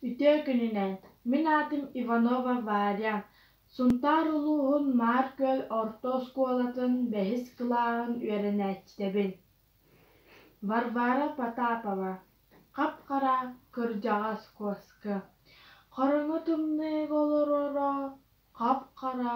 Үтүө күнүнэн! Мин аатым Иванова Варя, Сунтаар улууһун Маар-Күөл орто оскуолатын бэһис кылааһын үөрэнээччитэбин. Варвара Потапова, хап-хара, кырдьаҕас куоска. Хорону тымныы олороро, хап-хара,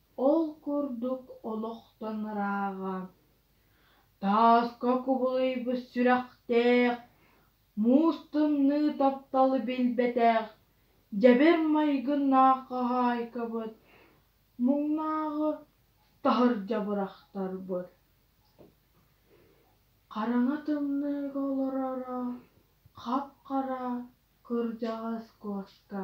Ол курдук олохтон ырааҕа, тааска кубулуйбут сүрэхтээх, муус тымныы тапталы билбэтэх, дьэбэр майгыннаах хаһаайкабыт муҥнааҕы таһырдьа бырахтарбыт. Хараҥа тымныыга олороро хап-хара кырдьаҕас куоска